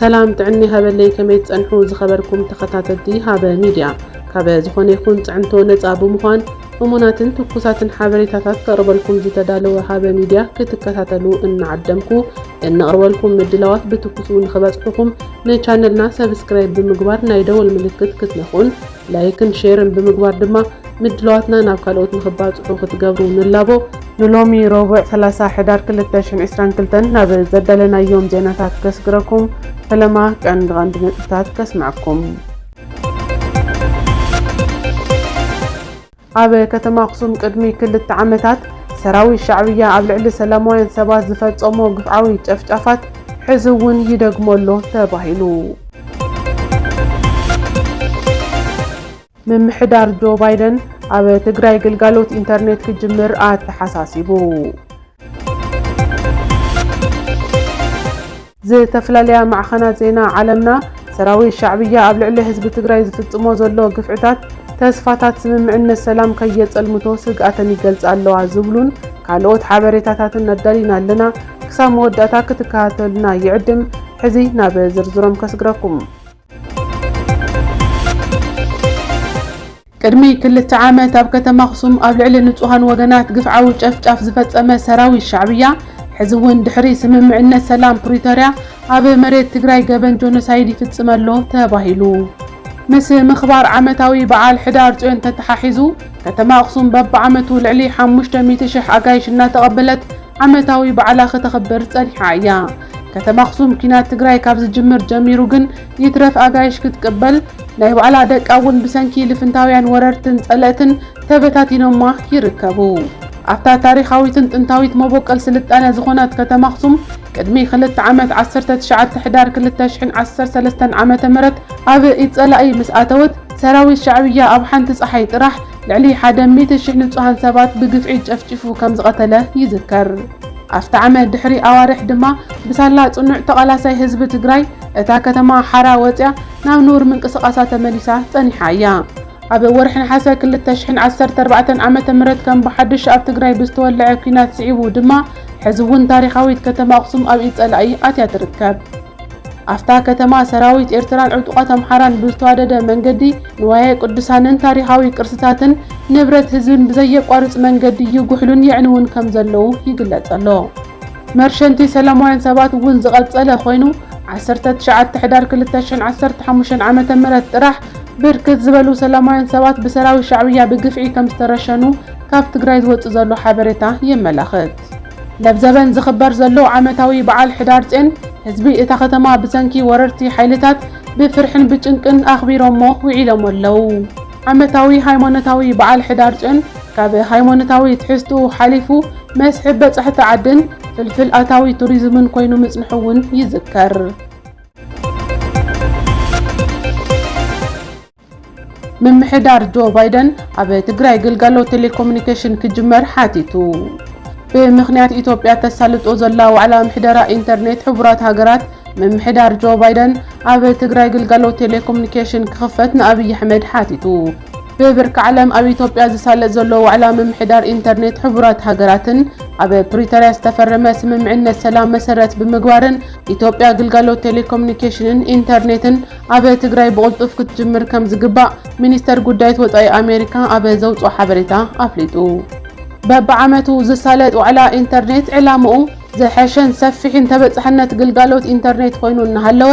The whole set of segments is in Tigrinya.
ሰላም ጥዕና ይሃበለይ ከመይ ትጸንሑ ዝኸበርኩም ተኸታተልቲ ሃበ ሚድያ ካበ ዝኾነ ይኹን ጽዕንቶ ነጻ ብምዃን እሙናትን ትኩሳትን ሓበሬታታት ከቕርበልኩም ዝተዳለወ ሃበ ሚድያ ክትከታተሉ እናዓደምኩ እንቕርበልኩም ምድላዋት ብትኩሱ ንኽበጽሑኹም ንቻነልና ሰብስክራይብ ብምግባር ናይ ደወል ምልክት ክትነኹን ላይክን ሼርን ብምግባር ድማ ምድላዋትና ናብ ካልኦት ንኽባፅሑ ክትገብሩ ንላቦ። ንሎሚ ረቡዕ ሰላሳ ሕዳር ክልተ ሽሕን ዕስራን ክልተን ናብ ዘዳለናዮም ዜናታት ከስግረኩም፣ ፈለማ ቀንዲ ቀንዲ ነጥብታት ከስምዐኩም። ኣብ ከተማ ኣኽሱም ቅድሚ ክልተ ዓመታት ሰራዊት ሻዕብያ ኣብ ልዕሊ ሰላማውያን ሰባት ዝፈፀሞ ግፍዓዊ ጨፍጫፋት ሕዚ እውን ይደግሞ ኣሎ ተባሂሉ። ምምሕዳር ጆ ባይደን ኣብ ትግራይ ግልጋሎት ኢንተርኔት ክጅምር ኣተሓሳሲቡ። ዝተፈላለያ ማዕኸናት ዜና ዓለምና፣ ሰራዊት ሻዕብያ ኣብ ልዕሊ ህዝቢ ትግራይ ዝፍፅሞ ዘሎ ግፍዕታት፣ ተስፋታት ስምምዕነት ሰላም ከየፀልምቶ ስግኣተን ይገልፃ ኣለዋ ዝብሉን ካልኦት ሓበሬታታትን ኣዳሊና ኣለና። ክሳብ መወዳእታ ክትከታተሉና ይዕድም። ሕዚ ናብ ዝርዝሮም ከስግረኩም። ቅድሚ ክልተ ዓመት ኣብ ከተማ ኣኽሱም ኣብ ልዕሊ ንፁሃን ወገናት ግፍዓዊ ጨፍጫፍ ዝፈፀመ ሰራዊት ሻዕብያ ሕዚ እውን ድሕሪ ስምምዕነት ሰላም ፕሪቶርያ ኣብ መሬት ትግራይ ገበን ጆኖሳይድ ይፍፅም ኣሎ ተባሂሉ። ምስ ምኽባር ዓመታዊ በዓል ሕዳር ፅዮን ተተሓሒዙ ከተማ ኣኽሱም በቢዓመቱ ልዕሊ ሓሙሽተ ሚእቲ ሽሕ ኣጋይሽ እናተቐበለት ዓመታዊ በዓላ ክተኽብር ፀኒሓ እያ። ከተማ ኣኽሱም ኲናት ትግራይ ካብ ዝጅምር ጀሚሩ ግን ይትረፍ ኣጋይሽ ክትቅበል ናይ ባዕላ ደቃ እውን ብሰንኪ ልፍንታውያን ወረርትን ጸለእትን ተበታቲኖማ ይርከቡ። ኣብታ ታሪኻዊትን ጥንታዊት መቦቀል ስልጣነ ዝኾነት ከተማ ኣኽሱም ቅድሚ ክልተ ዓመት ዓሰርተ ትሽዓተ ሕዳር ክልተ ሽሕን ዓሰርተ ሰለስተን ዓመተ ምህረት ኣብ ኢድ ጸላኢ ምስ ኣተወት ሰራዊት ሻዕብያ ኣብ ሓንቲ ጸሓይ ጥራሕ ልዕሊ ሓደ ሚእቲ ሽሕ ንጹሃን ሰባት ብግፍዒ ጨፍጪፉ ከም ዝቐተለ ይዝከር። ኣፍታ ዓመት ድሕሪ ኣዋርሕ ድማ ብሳላ ጽኑዕ ተቓላሳይ ህዝቢ ትግራይ እታ ከተማ ሓራ ወጺኣ ናብ ንቡር ምንቅስቓሳ ተመሊሳ ጸኒሓ እያ። ኣብ ወርሒ ነሓሰ ክልተ ሽሕን ዓሰርተ ኣርባዕተን ዓመተ ምህረት ከም ብሓድሽ ኣብ ትግራይ ብዝተወለዐ ኲናት ስዒቡ ድማ ሕዚ እውን ታሪኻዊት ከተማ ኣኽሱም ኣብ ኢድ ጸላኢ ኣትያ ትርከብ። ኣብታ ከተማ ሰራዊት ኤርትራን ዕጡቓት ኣምሓራን ብዝተዋደደ መንገዲ ንዋየ ቅዱሳንን ታሪኻዊ ቅርስታትን ንብረት ህዝብን ብዘየቋርጽ መንገዲ ይጉሕሉን የዕንዉን ከም ዘለዉ ይግለጽ ኣሎ። መርሸንቲ ሰላማውያን ሰባት እውን ዝቐጸለ ኮይኑ፣ ዓሰርተ ትሽዓተ ሕዳር ክልተ ሽሕን ዓሰርተ ሓሙሽተን ዓመተ ምህረት ጥራሕ ብርክት ዝበሉ ሰላማውያን ሰባት ብሰራዊት ሻዕብያ ብግፍዒ ከም ዝተረሸኑ ካብ ትግራይ ዝወጽእ ዘሎ ሓበሬታ የመላኽት። ለብዘበን ዝኽበር ዘሎ ዓመታዊ በዓል ሕዳርጼን ህዝቢ እታ ከተማ ብሰንኪ ወረርቲ ሓይልታት ብፍርሕን ብጭንቅን ኣኽቢሮሞ ውዒሎሞ ኣለዉ። ዓመታዊ ሃይማኖታዊ በዓል ሕዳር ፅዮን ካብ ሃይማኖታዊ ትሕዝትኡ ሓሊፉ መስሕብ በፃሕቲ ዓድን ፍልፍል ኣታዊ ቱሪዝምን ኮይኑ ምፅንሑ እውን ይዝከር። ምምሕዳር ጆ ባይደን ኣብ ትግራይ ግልጋሎት ቴሌኮሙኒኬሽን ክጅመር ሓቲቱ። ብምኽንያት ኢትዮጵያ ተሳልጦ ዘላ ዋዕላ ምሕደራ ኢንተርኔት ሕቡራት ሃገራት ምምሕዳር ጆ ባይደን ኣብ ትግራይ ግልጋሎት ቴሌኮሙኒኬሽን ክኽፈት ንኣብይ ኣሕመድ ሓቲቱ። ብብርኪ ዓለም ኣብ ኢትዮጵያ ዝሳለጥ ዘሎ ዋዕላ ምምሕዳር ኢንተርኔት ሕቡራት ሃገራትን ኣብ ፕሪቶርያ ዝተፈረመ ስምምዕነት ሰላም መሰረት ብምግባርን ኢትዮጵያ ግልጋሎት ቴሌኮሙኒኬሽንን ኢንተርኔትን ኣብ ትግራይ ብቕልጡፍ ክትጅምር ከምዝግባእ ሚኒስተር ጉዳይት ወፃኢ ኣሜሪካ ኣብ ዘውፅኦ ሓበሬታ ኣፍሊጡ። በብዓመቱ ዝሳለጥ ዋዕላ ኢንተርኔት ዕላምኡ ዝሐሸን ሰፊሕን ተበፃሕነት ግልጋሎት ኢንተርኔት ኾይኑ እናሃለወ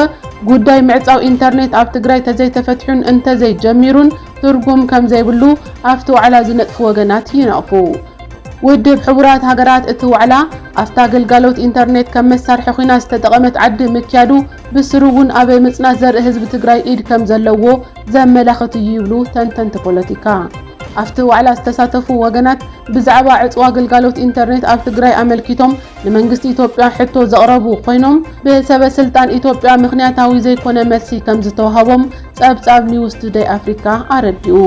ጉዳይ ምዕፃው ኢንተርኔት ኣብ ትግራይ ተዘይተፈትሑን እንተዘይጀሚሩን ትርጉም ከምዘይብሉ ኣፍቲ ዋዕላ ዝነጥፉ ወገናት ይነቕፉ። ውድብ ሕቡራት ሃገራት እቲ ዋዕላ ኣፍታ ግልጋሎት ኢንተርኔት ከም መሳርሒ ኹይና ዝተጠቐመት ዓዲ ምክያዱ ብስሩ እውን ኣበ ምፅናት ዘርኢ ህዝቢ ትግራይ ኢድ ከምዘለዎ ዘመላኽት እዩ ይብሉ ተንተንቲ ፖለቲካ። ኣብቲ ዋዕላ ዝተሳተፉ ወገናት ብዛዕባ ዕፅዋ ግልጋሎት ኢንተርኔት ኣብ ትግራይ ኣመልኪቶም ንመንግስቲ ኢትዮጵያ ሕቶ ዘቕረቡ ኮይኖም ብሰበ ስልጣን ኢትዮጵያ ምኽንያታዊ ዘይኮነ መልሲ ከምዝተውሃቦም ፀብፃብ ኒውስ ቱደይ ኣፍሪካ ኣረዲኡ።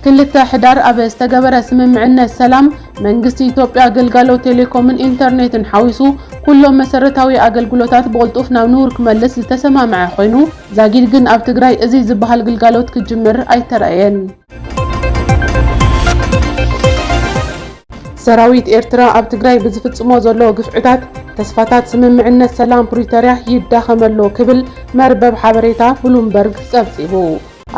ክልተ ሕዳር ኣብ ዝተገበረ ስምምዕነት ሰላም መንግስቲ ኢትዮጵያ ግልጋሎት ቴሌኮምን ኢንተርኔትን ሓዊሱ ኩሎም መሰረታዊ ኣገልግሎታት ብቕልጡፍ ናብ ንቡር ክመልስ ዝተሰማምዐ ኮይኑ ዛጊድ ግን ኣብ ትግራይ እዙይ ዝበሃል ግልጋሎት ክጅምር ኣይተራእየን። ሰራዊት ኤርትራ ኣብ ትግራይ ብዝፍፅሞ ዘሎ ግፍዕታት ተስፋታት ስምምዕነት ሰላም ፕሪቶርያ ይዳኸም ኣሎ ክብል መርበብ ሓበሬታ ብሉምበርግ ፀብፂቡ።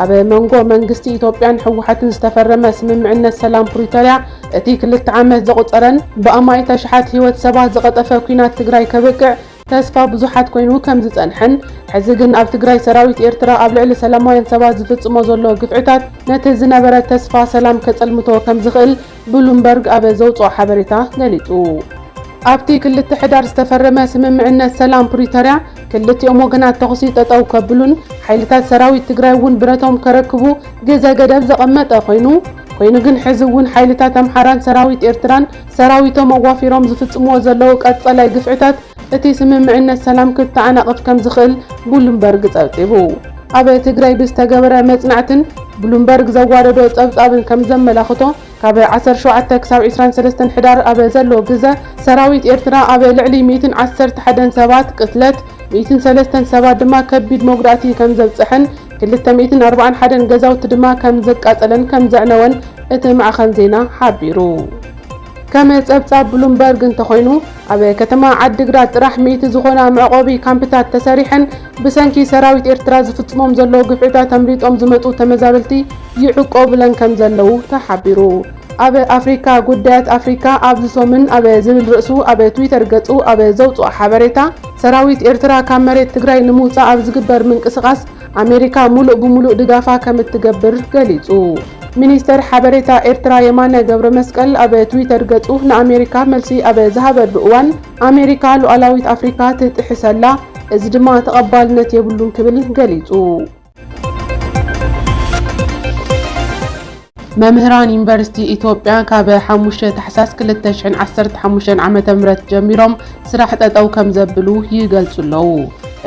ኣብ መንጎ መንግስቲ ኢትዮጵያን ህወሓትን ዝተፈረመ ስምምዕነት ሰላም ፕሪቶርያ እቲ ክልተ ዓመት ዘቑፀረን ብኣማኢት ኣሽሓት ህይወት ሰባት ዝቐጠፈ ኲናት ትግራይ ከብቅዕ ተስፋ ብዙሓት ኮይኑ ከም ዝጸንሐን ሕዚ ግን ኣብ ትግራይ ሰራዊት ኤርትራ ኣብ ልዕሊ ሰላማውያን ሰባት ዝፍጽሞ ዘሎ ግፍዕታት ነቲ ዝነበረ ተስፋ ሰላም ከጸልምቶ ከም ዝኽእል ብሉምበርግ ኣብ ዘውጽኦ ሓበሬታ ገሊጹ። ኣብቲ ክልተ ሕዳር ዝተፈረመ ስምምዕነት ሰላም ፕሪቶርያ ክልቲኦም ወገናት ተኹሲ ጠጠው ከብሉን ሓይልታት ሰራዊት ትግራይ እውን ብረቶም ከረክቡ ግዘ ገደብ ዘቐመጠ ኮይኑ ኮይኑ ግን ሕዚ እውን ሓይልታት ኣምሓራን ሰራዊት ኤርትራን ሰራዊቶም ኣዋፊሮም ዝፍጽምዎ ዘለዉ ቀጸላይ ግፍዕታት እቲ ስምምዕነት ሰላም ክተዓናቕፍ ከምዝኽእል ቡሉምበርግ ጸብጺቡ። ኣብ ትግራይ ብዝተገበረ መጽናዕትን ቡሉምበርግ ዘዋደዶ ጸብጻብን ከምዘመላኽቶ፣ ካብ ዓሰርተ ሸውዓተ ክሳብ ዕስራን ሰለስተን ሕዳር ኣብ ዘሎ ግዘ ሰራዊት ኤርትራ ኣብ ልዕሊ ሚእትን ዓሰርተ ሓደን ሰባት ቅትለት፣ ሚእትን ሰለስተን ሰባት ድማ ከቢድ መጉዳእቲ ከምዘብጸሐን ክልተ ሚእትን ኣርባዓን ሓደን ገዛውቲ ድማ ከም ዘቃጸለን ከም ዘዕነወን እቲ ማዕኸን ዜና ሓቢሩ። ከም ጸብጻብ ብሉምበርግ እንተኾይኑ፣ ኣብ ከተማ ዓዲግራት ጥራሕ ሚእቲ ዝኾና መዕቖቢ ካምፕታት ተሰሪሐን ብሰንኪ ሰራዊት ኤርትራ ዝፍጽሞም ዘሎ ግፍዕታት ኣምሊጦም ዝመጹ ተመዛበልቲ ይዕቆቡለን ከም ዘለዉ ተሓቢሩ። ኣብ ኣፍሪካ ጉዳያት ኣፍሪካ ኣብዚ ሰሙን ኣብ ዝብል ርእሱ ኣብ ትዊተር ገፁ ኣብ ዘውፅኦ ሓበሬታ ሰራዊት ኤርትራ ካብ መሬት ትግራይ ንምውፃእ ኣብ ዝግበር ምንቅስቓስ ኣሜሪካ ሙሉእ ብሙሉእ ድጋፋ ከምትገብር ገሊፁ። ሚኒስተር ሓበሬታ ኤርትራ የማነ ገብረመስቀል ኣብ ትዊተር ገፁ ንኣሜሪካ መልሲ ኣብ ዝሃበሉ እዋን ኣሜሪካ ሉኣላዊት ኣፍሪካ ትጥሕስ ኣላ እዚ ድማ ተቐባልነት የብሉን ክብል ገሊፁ። መምህራን ዩኒቨርሲቲ ኢትዮጵያ ካብ 5 ታሕሳስ 2015 ዓ.ም ጀሚሮም ስራሕ ጠጠው ከም ዘብሉ ይገልጹ ኣለዉ።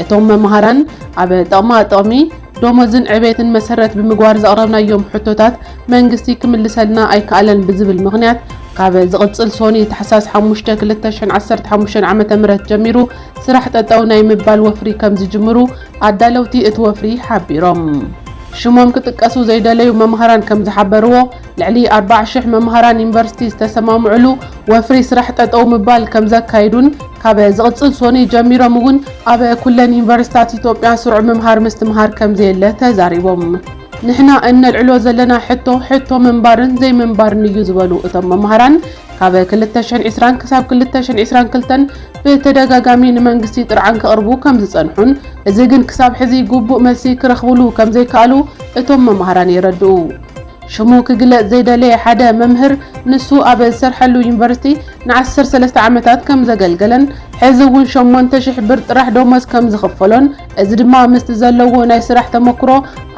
እቶም መምሃራን ኣብ ጥቕማ ጥቕሚ ዶሞዝን ዕቤትን መሰረት ብምግባር ዘቕረብናዮም ሕቶታት መንግስቲ ክምልሰልና ኣይከኣለን ብዝብል ምኽንያት ካብ ዝቕጽል ሶኒ ታሕሳስ 5 2015 ዓ.ም ጀሚሩ ስራሕ ጠጠው ናይ ምባል ወፍሪ ከም ዝጅምሩ ኣዳለውቲ እቲ ወፍሪ ሓቢሮም። ሽሞም ክጥቀሱ ዘይደለዩ መማህራን ከምዝሓበርዎ፣ ልዕሊ ኣርባዓ ሽሕ መማህራን ዩኒቨርሲቲ ዝተሰማምዕሉ ወፍሪ ስራሕ ጠጠው ምባል ከምዘካይዱን ካብ ዝቕፅል ሶኑይ ጀሚሮም እውን ኣብ ኩለን ዩኒቨርሲታት ኢትዮጵያ ስሩዕ ምምሃር ምስትምሃር ከምዘየለ ተዛሪቦም። ንሕና እነልዕሎ ዘለና ሕቶ ሕቶ ምንባርን ዘይምንባርን እዩ ዝበሉ እቶም መማህራን፣ ካብ ክልተ ሽሕን ዕስራን ክሳብ ክልተ ሽሕን ዕስራን ክልተን ብተደጋጋሚ ንመንግስቲ ጥርዓን ከቕርቡ ከም ዝጸንሑን እዚ ግን ክሳብ ሕዚ ግቡእ መልሲ ክረኽብሉ ከም ዘይከኣሉ እቶም መማህራን የረድኡ። ሽሙ ክግለጽ ዘይደለየ ሓደ መምህር ንሱ ኣብ ዝሰርሐሉ ዩኒቨርሲቲ ንዓሰርተ ሰለስተ ዓመታት ከም ዘገልገለን ሕዚ እውን ሸሞንተ ሽሕ ብር ጥራሕ ደሞዝ ከም ዝኽፈሎን እዚ ድማ ምስቲ ዘለዎ ናይ ስራሕ ተመኩሮ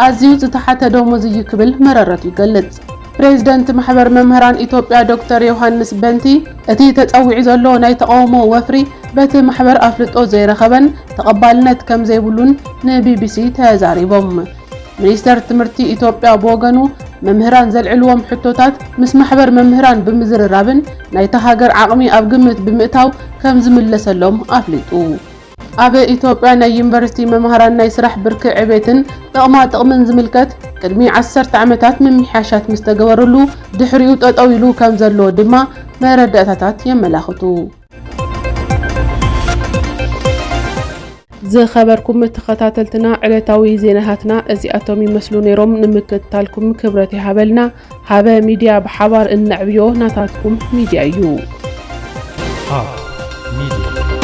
ኣዝዩ ዝተሓተ ደሞዝ እዩ ክብል መረረቱ ይገልጽ። ፕሬዝደንት ማሕበር መምህራን ኢትዮጵያ ዶክተር ዮሃንስ በንቲ እቲ ተፀዊዑ ዘሎ ናይ ተቓውሞ ወፍሪ በቲ ማሕበር ኣፍልጦ ዘይረኸበን ተቐባልነት ከምዘይብሉን ንቢቢሲ ተዛሪቦም። ሚኒስቴር ትምህርቲ ኢትዮጵያ ብወገኑ መምህራን ዘልዕልዎም ሕቶታት ምስ ማሕበር መምህራን ብምዝርራብን ናይታ ሃገር ዓቕሚ ኣብ ግምት ብምእታው ከምዝምለሰሎም ኣፍሊጡ። ኣብ ኢትዮጵያ ናይ ዩኒቨርሲቲ መማህራን ናይ ስራሕ ብርኪ ዕቤትን ጥቕማ ጥቕምን ዝምልከት ቅድሚ ዓሰርተ ዓመታት ምምሕያሻት ምስ ተገበረሉ ድሕሪኡ ጠጠው ኢሉ ከም ዘሎ ድማ መረዳእታታት የመላኽቱ። ዝኸበርኩም ተኸታተልትና ዕለታዊ ዜናታትና እዚኣቶም ይመስሉ ነይሮም። ንምክትታልኩም ክብረት ይሃበልና። ሃበ ሚድያ ብሓባር እነዕብዮ ናታትኩም ሚድያ እዩ።